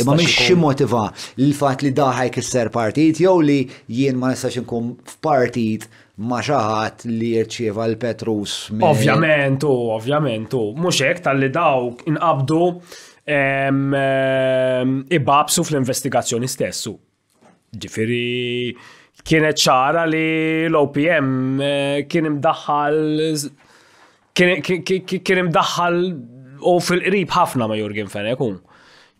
Imma mhix xi motiva l-fatt li daħaj kisser partit jew li jien ma nistax inkun f'partit ma xaħat li jirċieva l-Petrus. Ovvjament, u ovvjament, u mhux hekk tal-li dawk inqabdu ibabsu fl-investigazzjoni stessu. Ġifiri, kienet ċara li l-OPM eh, kien imdaħħal kien imdaħħal u fil-qrib ħafna ma' Jurgen Fenek un.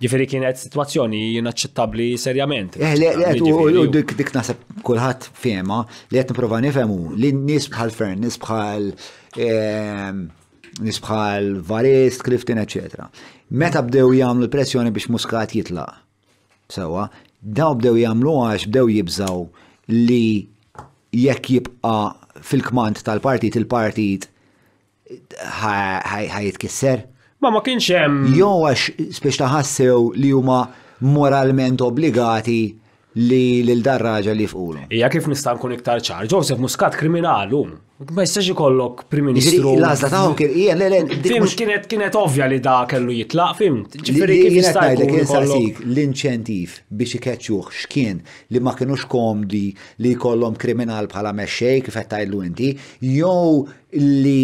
Ġifiri kienet situazzjoni inaċċettabli serjament. Eh, u dik dik nasab kulħadd fema li qed nipprova nifhemu li nies bħal Fern, nies bħal ehm, nies bħal Varist, Clifton, eċetera. Meta bdew jagħmlu l-pressjoni biex Muscat jitlaq Sewwa, dawn bdew jagħmluha għax bdew jibżgħu li jekk jibqa' fil-kmand tal-partit il-partit ħajitkisser. Ma ma kienx hemm. Jew għax spiex taħassew li huma moralment obbligati li lil dar-raġel jifqulu. Hija kif nista' nkun iktar ċar, Joseph Muscat kriminal hu. Ma jistax ikollok Prim Ministru. L-għażla tagħhom kien hija le le. Fimt kienet kienet ovvja li da kellu jitlaq, fimt. Ġifieri kif jista' jkun ikollok l-inċentiv biex ikeċċuh x'kien li ma kinux komdi li jkollhom kriminal bħala mexxej kif qed tgħidlu inti, jew li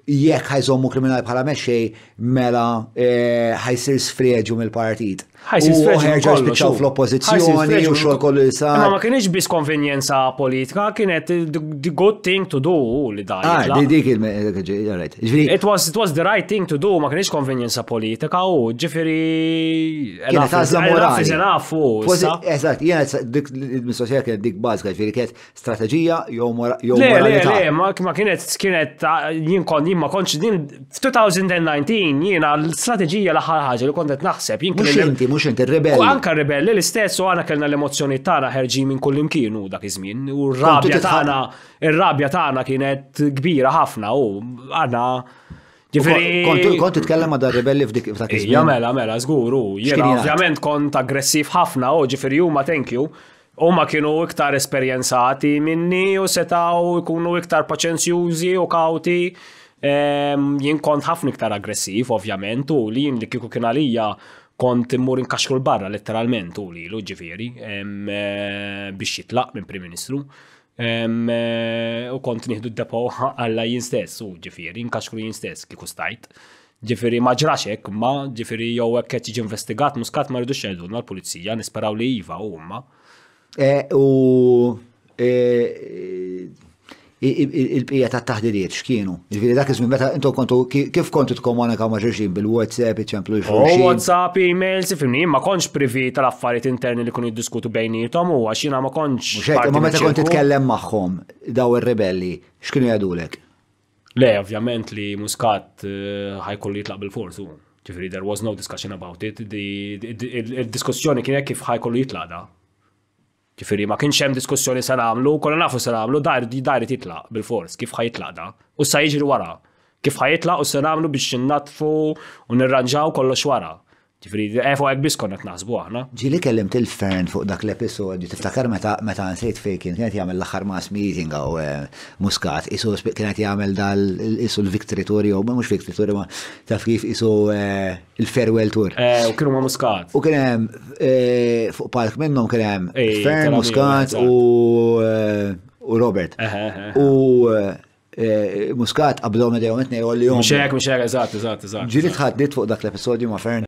jekk ħajżommu kriminal bħala mexxej mela ħajsir sfreġu mill-partit. Ħajsin sfreġu spiċċaw fl-oppożizzjoni u xogħol kollu li sar. Ma kienx biss konvenjenza politika, kienet the good thing to do li dan. Ah, di dik il-right. It was it was the right thing to do, ma kienx konvenjenza politika u ġifieri kienet għażla morali. Eżatt, jiena dik mistoqsija kienet dik bażika, ġifieri kienet strateġija jew moralità. Le, le, ma kienet kienet jien kon jien ma kontx din f'2019 jiena l-strateġija l-aħħar ħaġa li kont qed naħseb jien Mhux inti, mhux inti rebelli. Anka rebelli l-istess u għana kellna l-emozzjoni tagħna ħerġin minn kull imkien u dak iż-żmien u r-rabja tagħna ir-rabja tagħna kienet kbira ħafna u għana Ġifiri. Kont titkellem ma' rebelli f'dik f'dak iż-żmien. Mela, mela, żgur u jiena ovvjament kont aggressiv ħafna u ġifiri huma thank you. Huma kienu iktar esperjenzati minni u setgħu jkunu iktar paċenzjużi u kawti. Ehm, jien kont ħafna iktar aggressiv, ovvjament, u li jien li kieku kien għalija kont immur inkaxkru l-barra letteralment u li l ġifiri ehm, eh, biex jitlaq minn Prim Ministru. Ehm, eh, u kont nieħdu d-depo għalla jien stess u ġifiri, inkaxkru jien stess kieku stajt. Ġifiri ma ġrax hekk, ma ġifiri jew hekk qed jiġi investigat muskat ma rridux jgħidulna l-pulizija, nisperaw li iva u huma. E, u e, il-bqija ta' taħdiriet x'kienu. Ġifiri dak iż-żmien meta intom kontu kif kontu tkomunikaw ma' xulxin bil-WhatsApp, iċemplu oh, xulxin. WhatsApp, emails, ifimni, ma kontx privi tal-affarijiet interni li kunu jiddiskutu bejnietom u għax jiena ma kontx. Mhux ma meta kont titkellem magħhom daw ir-rebelli x'kienu jgħidulek? Le, ovvjament li Muscat eh, ħajkollu jitlaq bil-fors u. Ġifiri, there was no discussion about it. Il-diskussjoni kienet kif ħajkollu jitlaq da. Ġifiri, ma kienx hemm diskussjoni se nagħmlu, kollha nafu se nagħmlu, dar dar jitlaq bil-fors, kif ħajitlaq da. U sa jiġri wara. Kif ħajitlaq u se nagħmlu biex innatfu u nirranġaw kollox wara. Ġifri, eh, fuq biss konna t-nasbu aħna. Ġili kellim til-fern fuq dak l-episodju, tiftakar meta meta nsejt fej kien kienet jagħmel l-aħħar mass meeting għaw eh, muskat, isu kienet jagħmel dal isu l-victory tour jew mhux victory tour ma taf kif isu eh, il-farewell tour. Eh, u kienu ma muskat. U kien hemm fuq palk minnhom kien hemm fern muskat u u Robert. U Eh, Muscat qablhom idejhom qed ngħidhom li hom. Mhux hekk, mhux hekk, eżatt, eżatt, eżatt. Ġieli tħaddit fuq dak l-episodju ma' Fern.